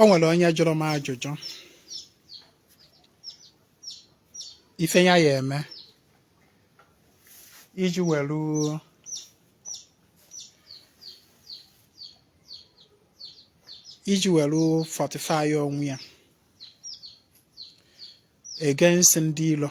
o nwere onye jụrụ m ajụjụ ife ya ya eme iji welu fortify onwe ya against ndị ilo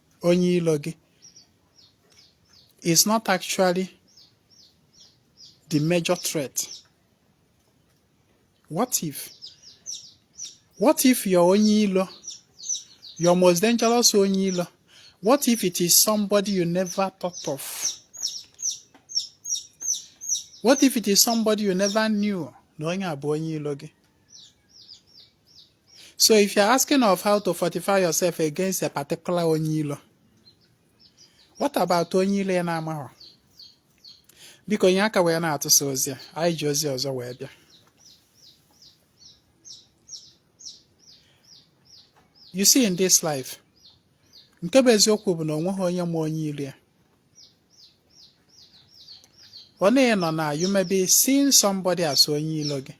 onye ilo gị is not actually the major threat what if what if your onye ilo your most dangerous onye ilo what if it is somebody you never thought of what if it is somebody you never knew na onye a bụ onye ilo gị So if you're asking of how to fortify yourself against a particular onye ilo, what about onye ilo ị na-amaghọ? Biko nye aka wee na-atụsa ozi a, anyị ji ozi ọzọ wee bịa. You see in this life, nke bụ eziokwu bụ na o nweghị onye ma onye ilo ya. Ọ na-enọ na you may be seeing somebody as onye ilo gị.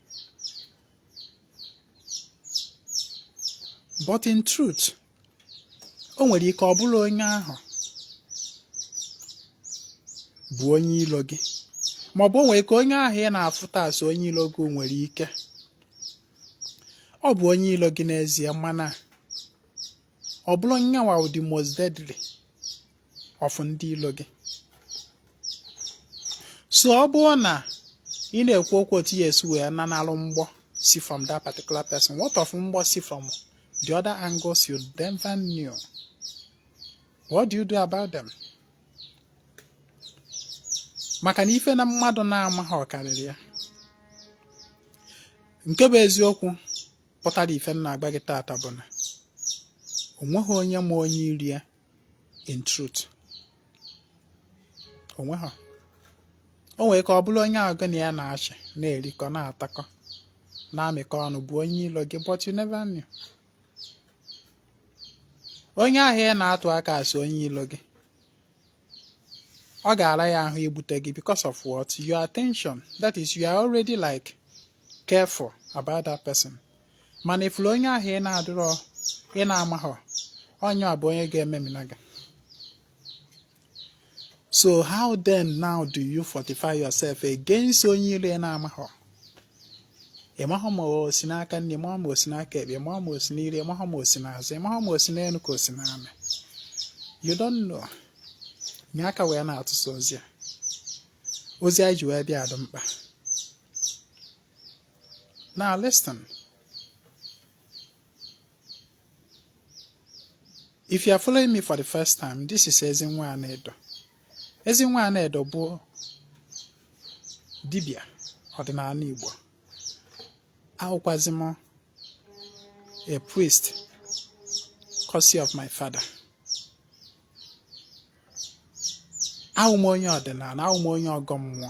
but in truth o nwere ike ọ bụrọ onye ahụ bụ onye ilo gị ma ọ bụ o nwere ike onye ahụ ị na-afụta as onye ilo gị nwere ike ọ bụ onye ilo gị n'ezie mana ọ bụrọ nyanwa the most deadly of ndị ilo gị so ọ bụrụ na ị na-ekwu okwu otu ị ya-esi wee nanalụ mgbọ si from that particular person what of mgbọ si from the other angles you never knew what do you do about them maka na ife na mmadụ na-amaghị ọ karịrị ya nke bụ eziokwu pụtara ife m na-agwa gị taata bụ na o nweghị onye ma onye ilo ya in truth o nweghị o nwere ike ọ bụrụ onye ahụ gị na ya na-achị na-erikọ na-atakọ na-amịkọ ọnụ bụ onye ilo gị but you never knew onye ahụ ị na-atụ aka as onye ilo gị ọ ga-ara ya ahụ igbute gị because of what your attention that is you are already like careful about that person mana ị fụrụ onye ahụ ị na-adịrọ ị na-amaghọ onye ọ bụ onye ga-ememina gị so how then now do you fortify yourself against onye ilo ị na-amaghọ ị mahọ ma o si n'aka nni ị mahọ ma o si n'aka ekpe ị mahọ ma o si n'iru ị mahọ ma o si n'azụ ị mahọ ma o si n'elu ka o si n'ala you don't know nye aka wee na-atụsa ozi a ozi anyị ji wee bịa dị mkpa Now listen. If you are following me for the first time, this is Ezinwa Anaedo. Ezinwa Anaedo bụ dibịa ọdịnala Igbo. Awụkwazị m a priest, courtesy of my father. Awụ m onye ọdịnala, awụ m onye ọgọ mmụọ.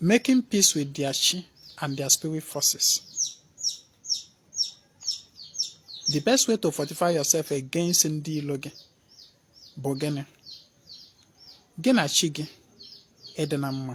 Making peace with their chi and their spirit forces. The best way to fortify yourself against ndị ilo gị bụ gịnị? Gị na chi gị ịdị na mma.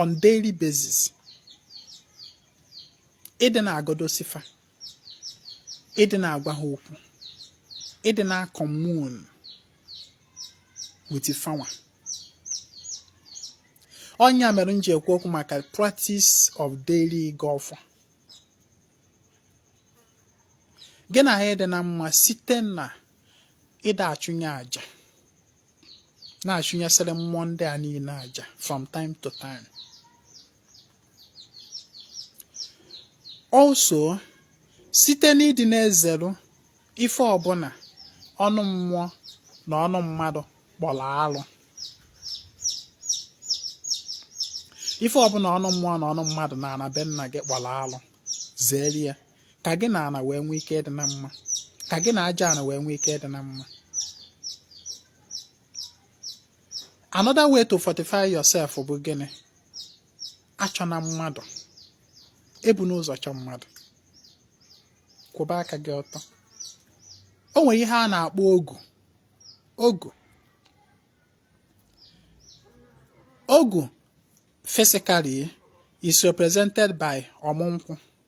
on daily basis ịdị na-agọdosi fa ịdị na-agwa ha okwu ịdị na-commune with fa nwa ọ nya mere m ji ekwu okwu maka practice of daily ịgọ ọfọ gị na ha ịdị na mma site na ịda achụnye aja na-achụnyesịrị mmụọ ndị a niile aja from time to time also site n'ịdị na-ezeru ife ọbụla ọnụ mmụọ na ọnụ mmadụ kpọrọ alụ ife ọbụla ọnụ mmụọ na ọnụ mmadụ na ana be nna gị kpọrọ alụ zere ya ka gị na ana wee nwee ike ịdị na mma ka gị na aja ana wee nwee ike ịdị na mma another way to fortify yourself bụ gịnị achọna mmadụ ebuna ụzọ chọ mmadụ kwụba aka gị ọtọ o nwere ihe a na-akpọ ogu ogu physically is represented by ọmụ nkwụ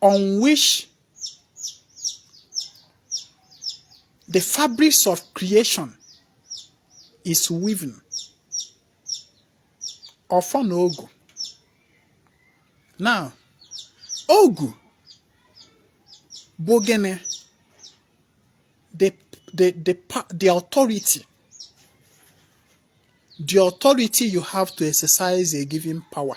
on which the fabrics of creation is weaving. Ọfọ na ogu. Now, ogu bụ gịnị? The, the, the, the authority. The authority you have to exercise a given power.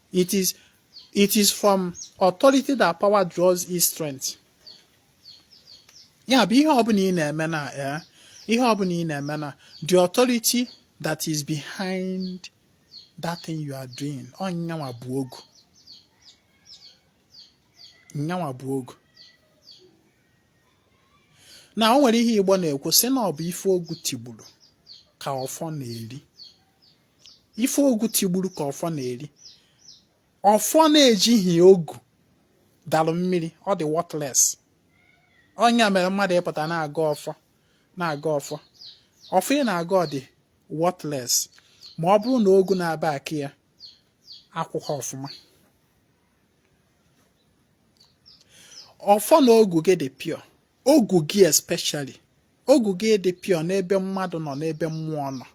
It is, it is from authority that power draws its strength. ya bụ ihe ọbụla ị na-eme na eh, ihe ọbụla ị na-eme na the authority that is behind that thing you are doing ọ nya nwa bụ ogu nya nwa bụ ogu na o nwere ihe igbo na-ekwu sị na ọ bụ ife ogu tigburu ka ọfọ na-eri ife ogu tigburu ka ọfọ na-eri ọfọ na-ejighị ogu dalụ mmiri ọ dị worthless ọ nya mere mmadụ ịpụta na-agọ ọfọ ọfọ ị na-agọ ọ dị worthless ma ọ bụrụ na ogu na-aback ya akwụrọ ọfụma ọfọ na ogu gị dị pure ogu gị especially ogu gị dị pure n'ebe mmadụ nọ n'ebe mmụọ nọ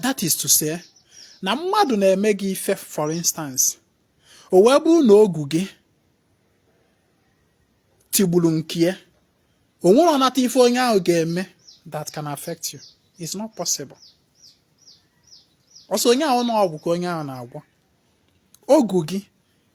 that is to say na mmadụ na-eme gị ife for instance o wee bụrụ na ogu gị tigburu nke ya o nwerọ ọnata ife onye ahụ ga-eme that can affect you it's not possible ọ sọ onye ahụ na ọgwụ ka onye ahụ na-agwọ ogu gị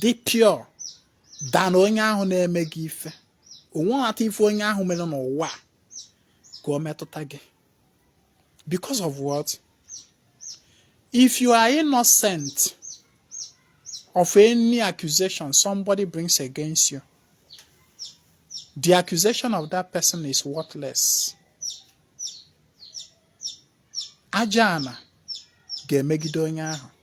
dị pure than onye ahụ na-eme gị ife o nwerọ ata ife onye ahụ mere n'ụwa ka o metụta gị because of what if you are innocent of any accusation somebody brings against you the accusation of that person is worthless aja ana ga-emegide onye ahụ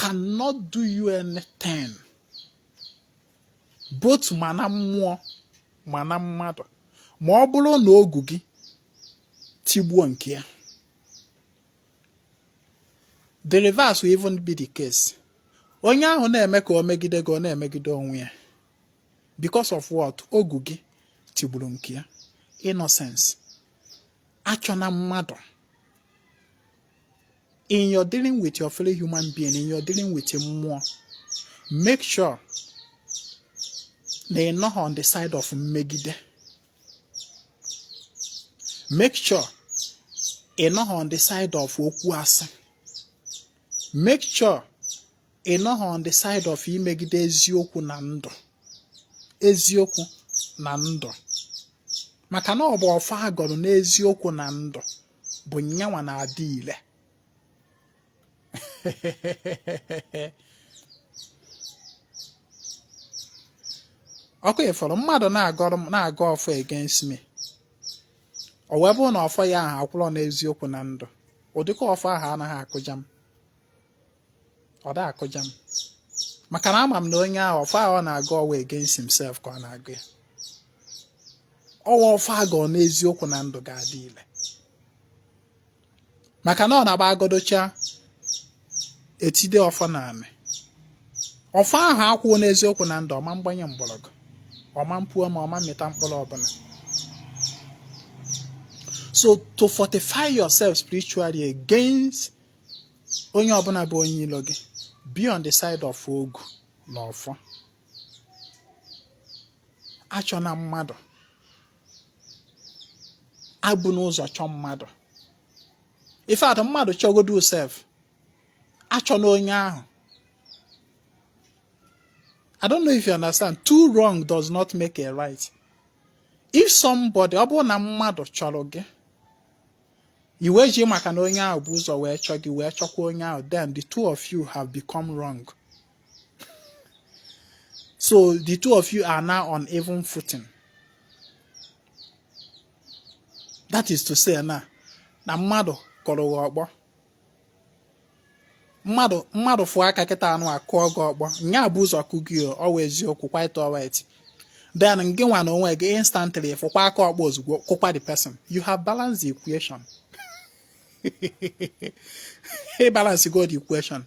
cannot do you anything both ma na mmụọ ma na mmadụ ma ọ bụrụ na ogu gị tigbuo nke ya the reverse will even be the case onye ahụ na-eme ka o megide gị ọ na-emegide onwe ya because of what ogu gị tigburu nke ya innocence achọna mmadụ in your dealing with your fellow human being in your dealing with mmụọ make sure na ị nọghị on the side of mmegide make sure ị nọghị on the side of okwu asị make sure ị nọghị on the side of imegide eziokwu na ndụ eziokwu na ndụ maka na ọ bụ ọfọ a gọrọ n'eziokwu na ndụ bụ nya nwa na-adị ile ọkụ ị fụrụ mmadụ na-agọrọ na-agọ ọfọ against me o wee bụrụ na ọfọ ya ahụ akwụrọ n'eziokwu na ndụ ụdịka ọfọ ahụ anaghị akụja m ọ da akụja m maka na ama m na onye ahụ ọfọ ọ na-agọ ọ bụ against himself ka ọ na-agọ ya ọ bụ ọfọ agọ n'eziokwu na ndụ ga-adị ile maka na ọ na-abụ agọdocha etide ọfọ n'anị ọfọ ahụ akwụrọ n'eziokwu na ndụ ọ ma mgbanye mgbọrọgwụ ọ ma mpu ome ọ ma mmịta mkpụrụ ọbụla so to fortify yourself spiritually against onye ọbụla bụ onye ilo gị be on the side of ogu na ọfọ achọna mmadụ ebuna ụzọ chọọ mmadụ if at all mmadụ chọgodu sef achọna onye ahụ I don't know if you understand. Two wrong does not make a right. If somebody, ọ bụrụ na mmadụ chọrọ gị i wee ji maka na onye ahụ bu ụzọ wee chọọ gị wee chọkwa onye ahụ then the two of you have become wrong so the two of you are now on even footing that is to say na na mmadụ kụrụ gị ọkpọ mmadụ mmadụ fụọ aka kịta nụa kụọ gị ọkpọ nya bu ụzọ kụ gị ọ bụ eziokwu quite alright then ngị nwa na onwe gị instantly fụkwa aka ọkpọ ozugbo kụkwa the person you have balanced the equation ị balance go the equation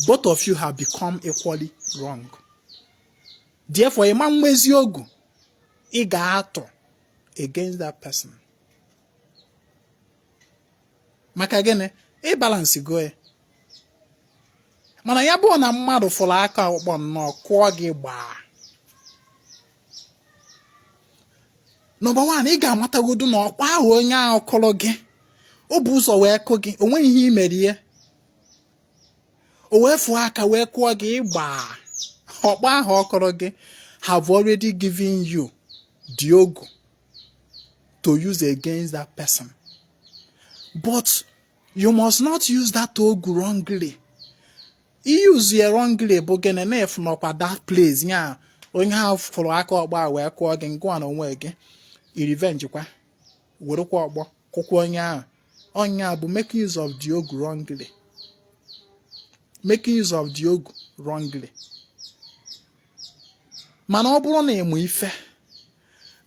both of you have become equally wrong therefore ị ma nwezi ogu ị ga-atụ against that person maka gịnị ị balance go ya mana ya bụrụ na mmadụ fụrụ aka ọkpọ nnọọ kụọ gị gbaa number one ị ga-amatagodu na ọkpọ ahụ onye ahụ kụrụ gị o bu ụzọ wee kụ gị o nweghị ihe i mere ya o wee fụọ aka wee kụọ gị gbaa ọkpọ ahụ ọ kụrụ gị have already given you the ogu to use against that person. But you must not use that ogu wrongly. i use ya wrongly bụ gịnị na-efu n'ọkwa that place ya onye ahụ fụrụ aka ọkpọ wee kụọ gị ngị nwa na onwe gị ị revenge kwa werekwa ọkpọ kụkwa onye ahụ ọ ya bụ making use of the ogu wrongly making use of the ogu wrongly mana ọ bụrụ na ị ma ife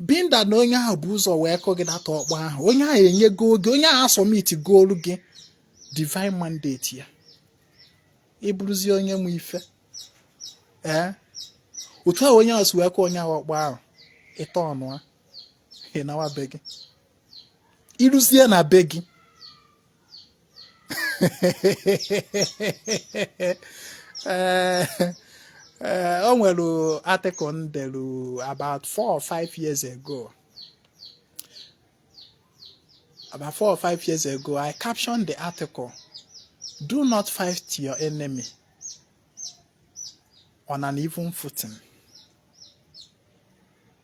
binda na onye ahụ bu ụzọ wee kụ gị that ọkpọ ahụ onye ahụ enyego gị ogu onye ahụ asubmit goolu gị divine mandate ya ị bụrụzie onye ma ife ee otu ahụ onye ahụ si wee kụ onye ahụ ọkpọ ahụ ị ta ọnụ ị nawa be gị i ruzie na be gị ee ee o nwere article m delu about four or five years ago about four or five years ago i captioned the article do not fight your enemy on an even footing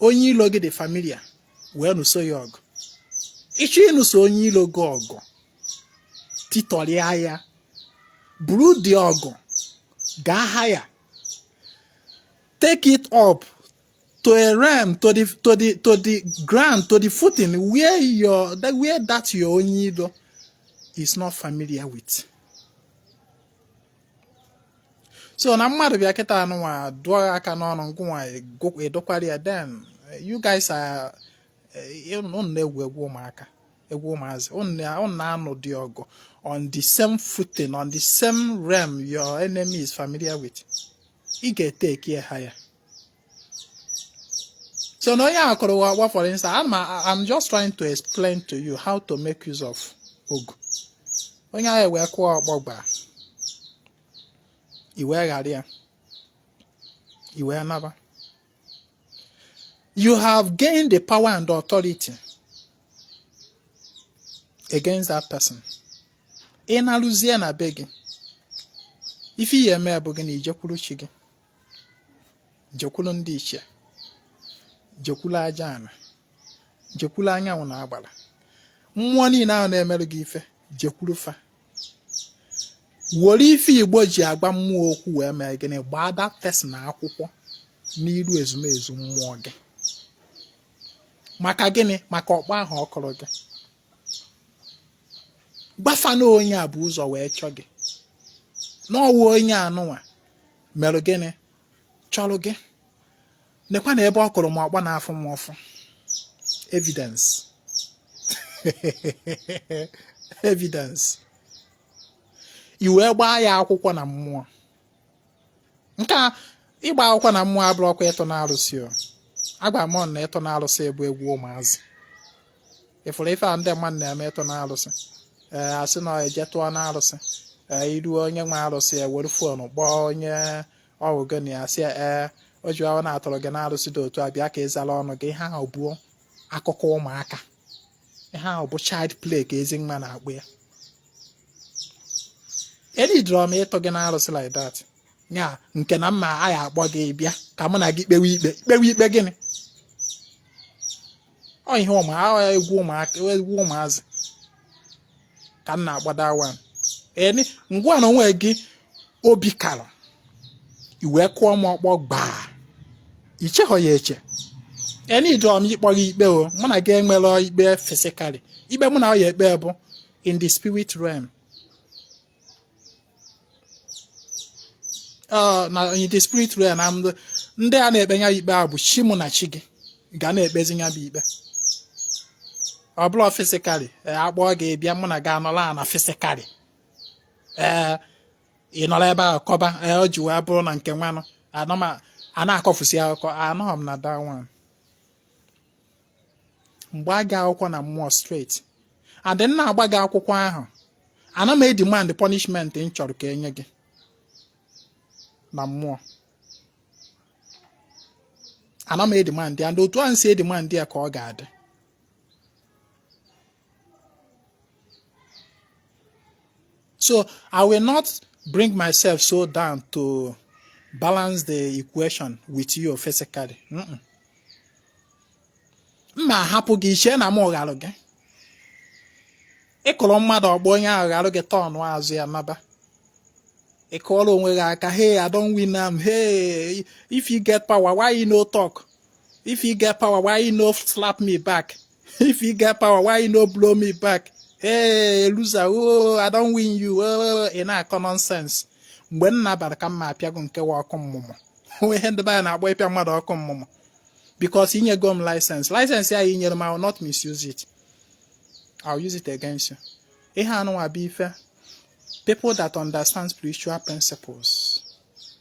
onye ilo gị dị familiar wee nụso ya ọgụ ị chọọ ịnụso onye ilo gị ọgụ titọrịa ya buru the ọgụ gaa higher take it up to a realm to the to the to the ground to the footing where your where that your onye ilo is not familiar with. so na mmadụ bịa kịta anụnwa dụọ aka n'ọnụ ngụnwa adụkwara ya then you guys are eh, unu na-egwu egwu ụmụaka egwu ụmụazị unu na-anụ the ọgụ on the same footing on the same realm your enemy is familiar with ị ga-etake higher so na onye a kụrụ ọkpọ gbaa for instance I'm, I'm just trying to explain to you how to make use of ogu onye ahụ wee kụọ ọkpọ gbaa i wee ghara ya i wee naba you have gained the power and authority against that person ị naruzie na be gị ife ị ya-eme bụ gịnị i jekwuru chi gị jekwulu ndị ichie jekwulu aja ana jekwulu anyanwụ na agbara mmụọ niile ahụ na-emerụ gị ife jekwuru fa were ife igbo ji agba mmụọ okwu wee mee gịnị gbaa that person akwụkwọ n'iru ezumezu mmụọ gị maka gịnị maka ọkpọ ahụ ọ kụrụ gị gba fa na onye a bu ụzọ wee chọọ gị na ọ wụ onye anụnwa merụ gịnị chọrọ gị nekwanụ ebe ọ kụrụ m ọkpọ na-afụ m ụfụ evidence evidence i wee gbaa ya akwụkwọ na mmụọ nke a ịgba akwụkwọ na mmụọ abụrọkwa ịtụ n'arụsị o agwa m na ịtụ n'arụsị bụ egwu ụmụazị ị fụrụ ife a ndị mmadụ na-eme ịtụ n'arụsị ee a sị na e je tụọ n'arụsị ee iru onye nwe arụsị e were phone kpọọ onye ọ wụ gị na ya sị ee o ji ahụ na a tụrụ gị n'arụsị dị otu a bịa ka ị zara ọnụ gị ihe ahụ bụ akụkọ ụmụaka ihe ahụ bụ child play ka ezi nwa na-akpọ ya eneedrọ m ịtụ gị n'arụsị like that ya nke na mụa ya-akpọ gị bịa ka mụ na gị kpewe ikpe kpewe ikpe gịnị ọ ihe ụmụ egwu ụmụaka egwu ụmụazị ka m na-akpọ that one eh ngịnwa n'onwe gị obi kara i wee kụọ m ọkpọ gbaa i chehọ ya eche eneedrọ m ịkpọ gị ikpe o mụ na gị enwerọ ikpe physically ikpe mụ na gị ya-ekpe bụ in the spirit realm na the spirit realm na ndị a na-ekpe ya ikpe a bụ chi mụ na chi gị ga na-ekpezi ya bụ ikpe ọ bụla physically e, akpọọ gị bịa mụ na gị anọla na physically ee ị nọrọ ebe a kọba e, ọ ji wee bụrụ na nke nwanụ a na-akọfusi akụkọ anọghị m na that one m gbaa gị akwụkwọ na mmụọ straight and m na-agba gị akwụkwọ ahụ ana m edemand punishment m chọrọ ka e nye gị na mmụọ ana m edemand ya and otu ahụ m si demand ya ka ọ ga-adị So I will not bring myself so down to balance the equation with you physically. M ma ahapụ gị i chee na mụ gharụ gị. Ị kụrụ mmadụ ọkpọ onye ahụ gharụ gị turnụ azụ ya naba. Ị kụọrọ onwe gị aka, hey, I don win am, hey, if you get power, why you no talk? If you get power, why you no slap me back? If you get power, why you no blow me back? Hey, loser, oh, I don win you. Oh, ị na-akọ nonsense. Mgbe m na-abara ka m ma apịago nke wa ọkụ mmụọ. Ihe ndị be anyị na-akpọ ịpịa mmadụ ọkụ mmụọ. Because i nyego m license. License a i nyere m, I will not misuse it. I will use it against you. Ihe anụnwa bụ ife. People that understand spiritual principles.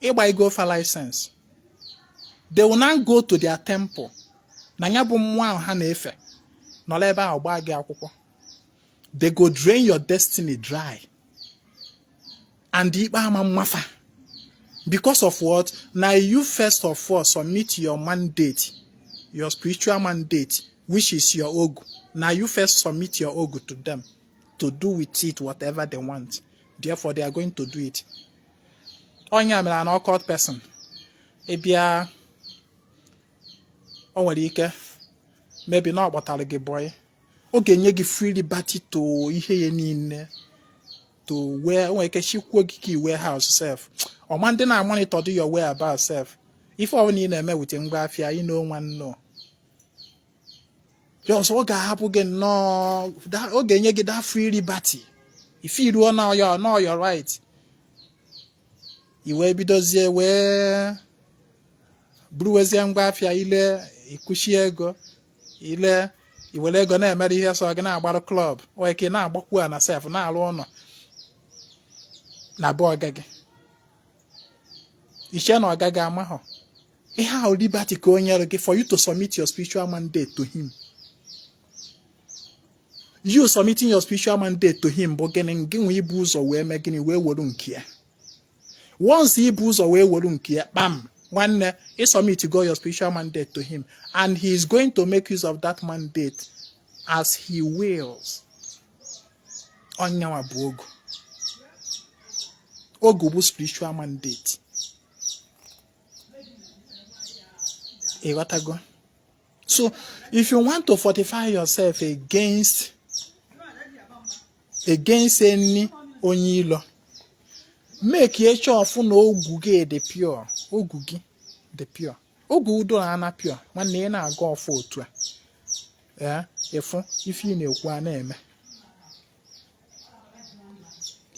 ịgba i nyego fa license they will now go to their temple na ya bụ mmụọ ahụ ha na-efe nọrọ ebe ahụ gbaa gị akwụkwọ they go drain your destiny dry and ikpe ama ama fa because of what na you first of all submit your mandate your spiritual mandate which is your ogu na you first submit your ogu to them to do with it whatever they want therefore they are going to do it ọ nya mere na occult person ị bịa o nwere ike maybe na ọ kpọtara gị bọyị ọ ga-enye gị free liberty to ihe ya niile to where o nwere ike chikwuo gị key warehouse sef ọ madị na-amonitordị your whereabout sef ife ọ bụla ị na-eme with ngwa afịa e no wan know just ọ ga-ahapụ gị nnọọ ọ ga-enye gị that free liberty ife ị rụọ na ọ your na ọ your right i wee bidozie wee buruwezie ngwa afịa i lee i kuchie ego i lee i were ego na-emere ihe sọ gị na-agbarụ club o nwere ike ị na-agbakwu ana sef na-arụ ụlọ na be ọga gị i chee na ọga gị amahọ ihe ahụ liberty ka o nyere gị for you to submit your spiritual mandate to him you submitting your spiritual mandate to him bụ gịnị gịnwa ibu ụzọ wee mee gịnị wee were nke ya once i bu ụzọ wee were nke ya kpam nwanne ị submit go your spiritual mandate to him and he is going to make use of that mandate as he wills ọ nyanwa bụ ogu ogu bụ spiritual mandate ị ghọtago so if you want to fortify yourself against against any onye ilo make sure fụ na ogu gị dị pure ogu gị dị pure ogu doro ana pure nwanne ị na-aga ọfụ otu a ya ị fụ ife ị na-ekwu a na-eme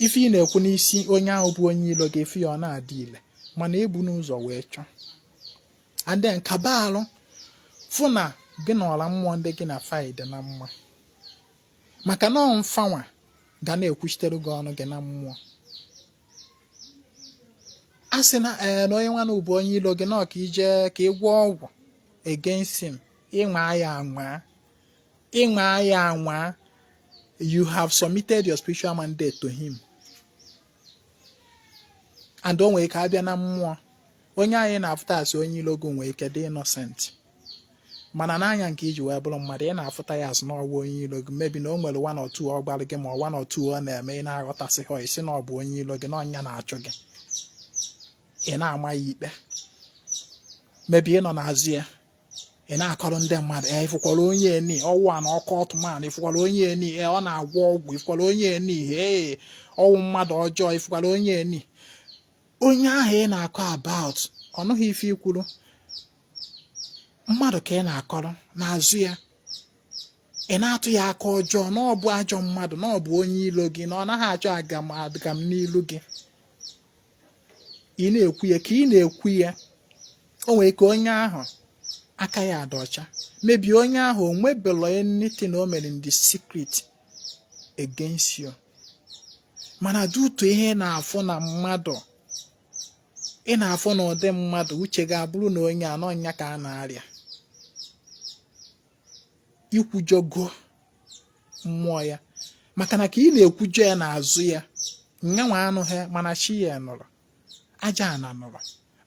ife ị na-ekwu n'isi onye ahụ bụ onye ilo gị ọ na-adị ile mana i bunu ụzọ wee chọọ and then kaba alụ fụ na gị na ọra mmụọ ndị gị na fa yi dị na mma maka na ọ fanwa ga na-ekwuchitere gị ọnụ gị na mmụọ a sị na ee eh, na onye nwa na bụ onye ilo gị na ọ ka i je ka ị gwọọ ọgwụ against him ị nwaa ya anwaa ị nwaa ya anwa you have submitted your spiritual mandate to him and o nwere ike a bịa na mmụọ onye a ị na-afụta asị onye ilo gị nwee ike dị innocent mana n'anya nke i ji wee bụrụ mmadụ ị na-afụta ya asị na ọ bụ onye ilo gị maybe na o nwere one or two ọ gbalụ gị ma one or two ọ na-eme ị na-aghọtasị ya isi na ọ bụ onye ilo gị na ọ nya na-achụ gị ị na-ama ya ikpe maybe ị nọ n'azụ ya ị na-akọrọ ndị mmadụ e ị fụkwara onye eni ọ wụ an occult man ị fụkwara onye eni e ọ na-agwọ ọgwụ ị fụkwara onye eni e ọ wụ mmadụ ọjọọ ị fụkwara onye eni onye ahụ ị na-akọ about ọ nụghị ife i kwuru mmadụ ka ị na-akọrọ n'azụ ya ị na-atụ ya aka ọjọọ na ọ bụ ajọ mmadụ na ọ bụ onye ilo gị na ọ naghị achọ agam agam n'ilu gị ị na-ekwu ya ka ị na-ekwu ya o nwere ike onye ahụ aka ya adị ọcha maybe onye ahụ o nwebelo anything o mere in the secret against you mana due to ị na-afụ na mmadụ ị na-afụ na ụdị mmadụ uche gị abụrụ na onye a na ọ nya ka a na-arịa i kwujọgo mmụọ ya maka na ka ị na-ekwujọ ya n'azụ ya nyanwa anụghị mana chi ya nụrụ aja ana nụrụ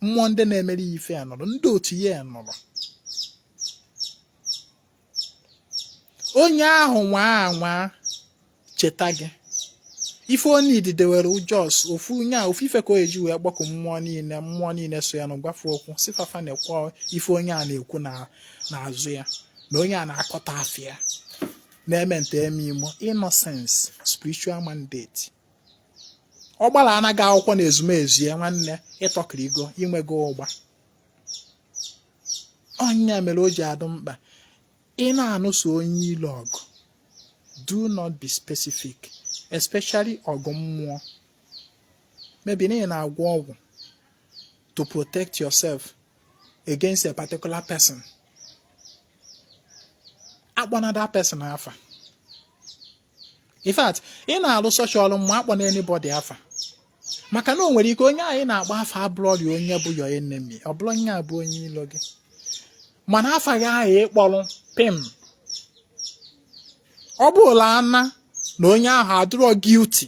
mmụọ ndị na-emere ya ife ya nụrụ ndị otu ya nụrụ onye ahụ nwaa anwaa cheta gị ife onye ididewere just ofu onye a ofu ife ka o eji wee gbakọ mmụọ niile mmụọ niile so ya na-agwa fa okwu sị fa fa nekwe ife onye a na-ekwu n'azụ ya na onye a na-akọta afịa na-eme nta eme imo innocence spiritual mandate ọ gbara na gị akwụkwọ na ezumezu ya nwanne ị tọkirigo i nwego ụgba ọ ya mere o ji adụ mkpa ị na-anụso onye ilo ọgụ do not be specific especially ọgụ mmụọ maybe na ị na-agwọ ọgwụ to protect yourself against a particular person akpọna that person afa in fact ị na-alụ such ọrụ mmụọ akpọna anybody afa maka na o nwere ike onye a ị na-agba afa abụrọri onye bụ your enemy ọ bụrọ onye ahụ bụ onye ilo gị mana afa ya ahụ ị kpọrọ pim ọ bụla ana na onye ahụ adịrọ guilty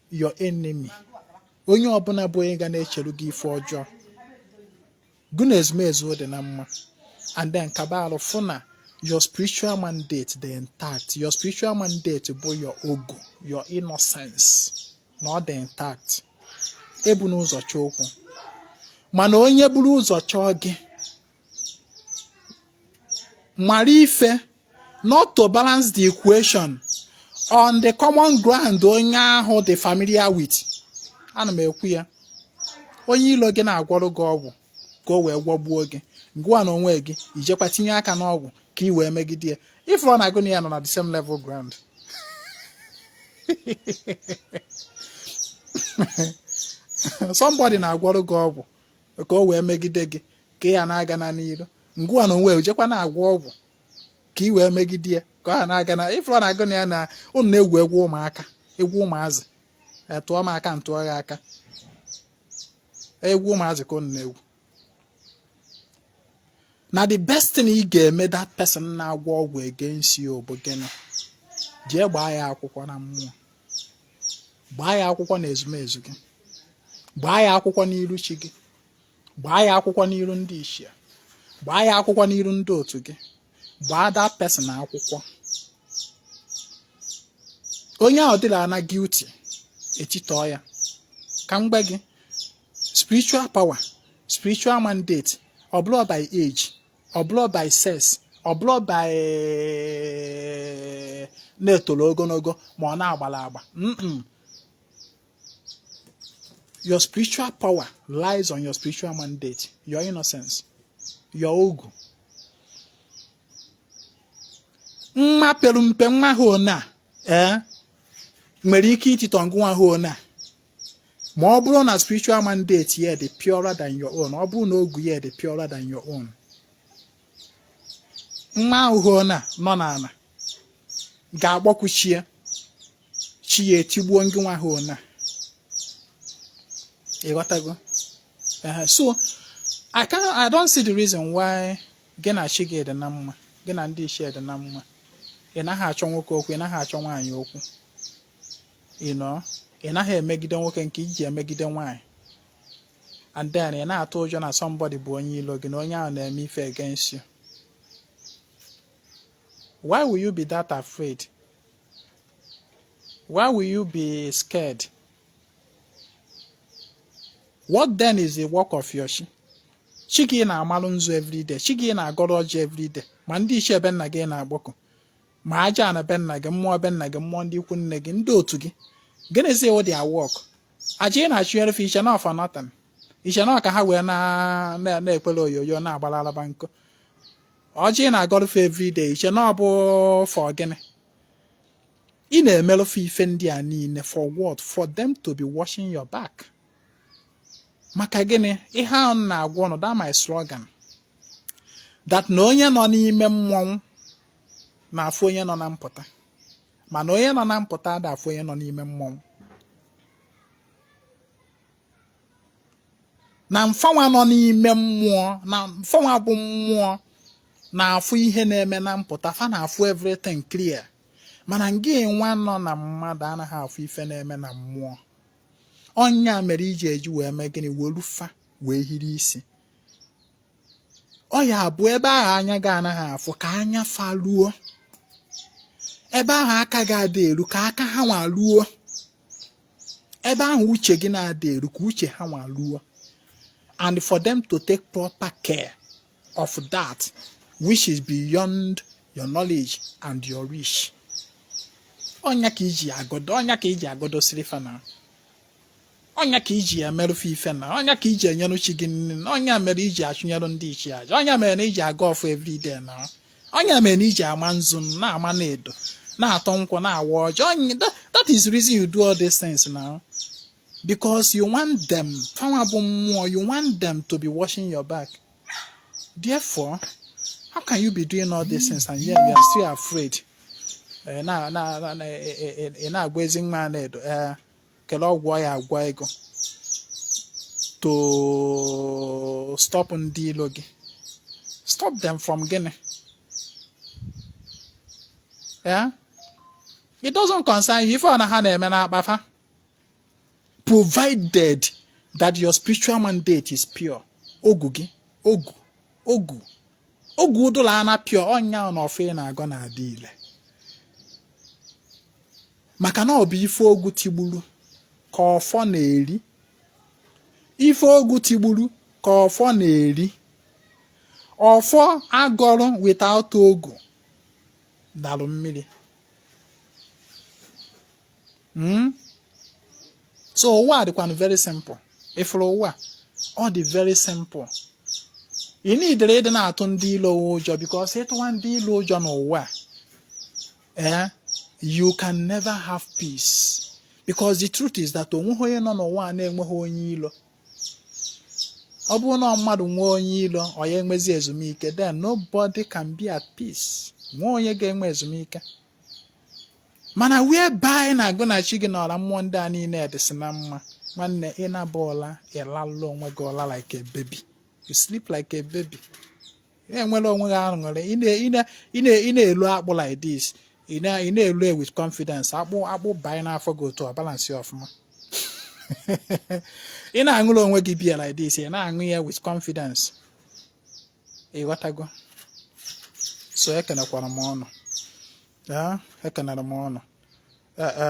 your enemy onye ọbụla bụ onye ga na-echere gị ife ọjọọ gụ na ezumezu dị na mma and then kaba arụ fụ na your spiritual mandate dị intact your spiritual mandate bụ your ogu your innocence na ọ dị intact ebuna ụzọ chọọ okwu mana onye buru ụzọ chọọ gị mara ife not to balance the equation on the common ground onye ahụ dị familiar with ana m ekwu ya onye ilo gị na-agwọrọ gị ọgwụ ka o wee gwọgbuo gị gụwa na onwe gị i jekwa tinye aka n'ọgwụ ka ị wee megide ya ị fụrụ na gụ na ya nọ na the same level ground somebody na-agwọrọ gị ọgwụ ka o wee megide gị ka ị ya na-aga na n'iru gụwa na onwe jekwa na-agwọ ọgwụ ka ị wee megide ya ka ọ ha na-aga na ị fụrụ na gụ na ya na ụnụ na-egwu egwu ụmụaka egwu ụmụazị tụọ m aka m tụọ gị aka egwu ụmụazị ka ụnụ na-egwu na the best thing ị ga-eme that person na-agwọ ọgwụ against you bụ gịnị jee gbaa ya akwụkwọ na mmụọ gbaa ya akwụkwọ na ezumezu gị gbaa ya akwụkwọ n'iru chi gị gbaa ya akwụkwọ n'iru ndị ichie gbaa ya akwụkwọ n'iru ndị otu gị gbaa that person akwụkwọ onye ahụ dịla na guilty etitọọ ya ka m gwa gị spiritual power spiritual mandate ọ bụrọ by age ọ bụrọ by sex ọ bụrọ by na e toro ogologo ma ọ na a gbara agba your spiritual power lies on your spiritual mandate your innocence your ogu nwa pere mpe nwa ahụ na ee eh, nwere ike ititọ ngị nwa ahụ na ma ọ bụrụ na spiritual mandate ya dị purer than your own ọ bụrụ na ogu ya dị purer than your own nwa ahụ na nọ n'ala ga-akpọku chi ya chi ya etigbuo ngị nwa ahụ na ịghọtago so I can I don't see the reason why gị na chi gị dị na mma gị na ndị ichie dị na mma ị naghị achọ nwoke okwu ị naghị achọ nwaanyị okwu ị na ị naghị emegide nwoke nke i ji emegide nwaanyị and then ị na-atụ ụjọ na somebody bụ onye ilo gị na onye ahụ na-eme ife against you why will you be that afraid why will you be scared what then is the work of your chi chi gị ị na-amalụ nzu everyday chi gị ị na-agọrọ ọjị everyday ma ndị ichie be nna gị ị na-akpọku ma aja ana be nna gị mmụọ be nna gị mmụọ ndị ikwu nne gị ndị otu gị gịnịzi wụ their work aja ị na-achụnyere fa i che na ọ for nothing i che na ọ ka ha wee na-ekwere oyoyo na-agbara alaba nkụ ọjị ị na-agọrụ fa everyday i che na ọ bụ for gịnị ị na-emerụ fa ife ndị a niile for what for them to be watching your back maka gịnị ihe ahụ m na-agwa unu that my slogan that na onye nọ n'ime mmọnwụ na-afụ onye nọ na mpụta mana onye nọ na mpụta ada afụ onye nọ n'ime mmọnwụ na mfanwa nọ n'ime mmụọ na mfanwa bụ mmụọ na-afụ ihe na-eme na mpụta fa na-afụ everything clear mana ngị nwa nọ na mmadụ anaghị afụ ife na-eme na mmụọ ọ ya mere e ji e ji wee mee gịnị weru fa wee hiri isi ọ ya bụ ebe ahụ anya gị anaghị afụ ka anya fa ruo ebe ahụ aka gị adị eru ka aka ha nwa ruo ebe ahụ uche gị na-adị eru ka uche ha nwa ruo and for them to take proper care of that which is beyond your knowledge and your reach ọ ya ka i ji agọdo ọ ya ka i ji agọdo sịlị fa na ọ nya ka iji emerụ fa ife na ọ nya ka iji enyere chi gị nni na ọ nya mere iji achụnyere ndị ichie aja ọ nya mere na iji agọ ọfọ everyday na ọ nya mere na iji ama nzu na-ama na edo na-atọ nkwụ na-awa ọjị that is the reason you do all these things now because you want them fanwa bụ mmụọ you want them to be watching your back therefore how can you be doing all these things and yet you are still afraid eh, eh, eh, ị na-agwa ezi nwa Anaedo kele ọgwụ ya agwọ gị to stop ndị ilo gị stop them from gịnị yeah? it doesn't concern you ife ọ na ha na-eme n'akpa fa provided that your spiritual mandate is pure ogu gị ogu ogu ogu ụdụla ana pure ọ nya na ọfọ ị na-agọ na-adị ile maka na ọ bụ ife ogu tigburu ka ọfọ na-eri ife ogu tigburu ka ọfọ na-eri ọfọ agọrọ without ogu dalụ mmiri hmm? so ụwa dịkwanụ very simple ịfụrụ ụwa ọ dị very simple ị needirọ ịdị na-atụ ndị ilo ụjọ because ịtụwa ndị ilo ụjọ n'ụwa eh, you can never have peace because the truth is that onweghị onye nọ n'ụwa a na-enweghị onye ilo ọ bụrụ na mmadụ nwee onye ilo ọ ya enwezi ezumike then nobody can be at peace nwee onye ga-enwe ezumike mana whereby gị na agwụ na chi gị na ọra mmụọ ndị a niile dịsị na mma nwanne ị naba ụla ị lalụ onwe gị ụla like a baby you sleep like a baby enwere onwe gị aṅụrị ị na-elo akpụ like this ị na-elo e with confidence akpụ akpụ banye n'afọ gị otu ọ balance ọfụma ị na-aṅụrụ onwe gị biya like this ị na-aṅụ ya with confidence ịghọtago so ekenekwara m ụnụ ekenere m ụnụ e, e,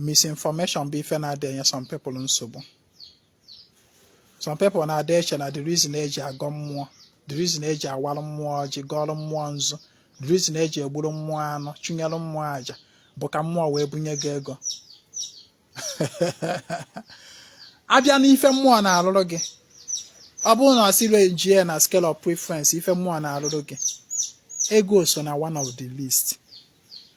misinformation bụ ife na-adị enye some people nsogbu some people na-adị eche na the reason eji agọ mmụọ the reason eji awalụ mmụọ ọjị gọọlụ mmụọ nzu the reason eji egburu mmụọ anụ chụnyelụ mmụọ aja bụ ka mmụọ wee bunye gị ego abịa n'ife mmụọ na-alụrụ gị ọ bụrụ na a sị arrangie na scale of preference ife mmụọ na-alụrụ gị ego so na one of the least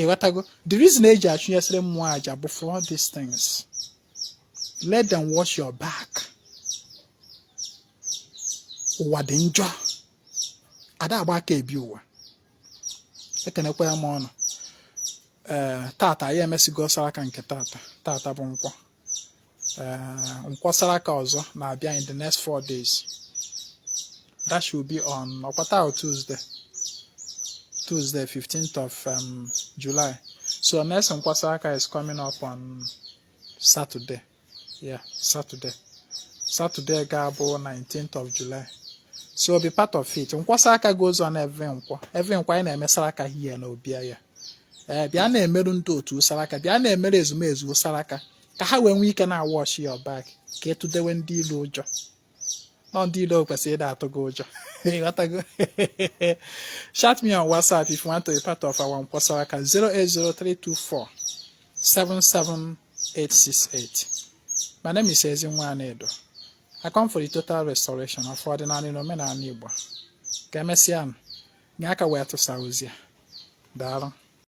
ịghọtago the reason eji achụnyesịrị mmụọ aja bụ for all these things let them watch your back ụwa dị njọ ada agba aka ebi ụwa ekenekwa m ụnụ ee eh, tata anyị emesigo saraka nke tata tata bụ nkwọ nkwọ saraka ọzọ na-abịa in the next four days that should be on ọkwa taa Tuesday Tuesday 15th of um, July so next nkwọ saraka is coming up on Saturday yeah Saturday Saturday ga-abụ 19th of July so be part of it nkwọ saraka goes on every nkwọ every nkwọ anyị na-eme saraka here na obi anyị ee eh, bịa na-emerụ ndị otu saraka bịa na-emere ezumezu saraka ka ha wee nwee ike na-awatch your back ka ị tụdewe ndị ilo ụjọ na ọ ndị ilo kwesịrị ịda atụ gị ụjọ ịghọtago chat me on whatsapp if you want to be part of our nkwọ saraka 08032477868 my name is Ezinwa Anaedo I come for the total restoration of ọdịnala na omenala Igbo ka emesịa nye aka wee tụsa ozi a daalụ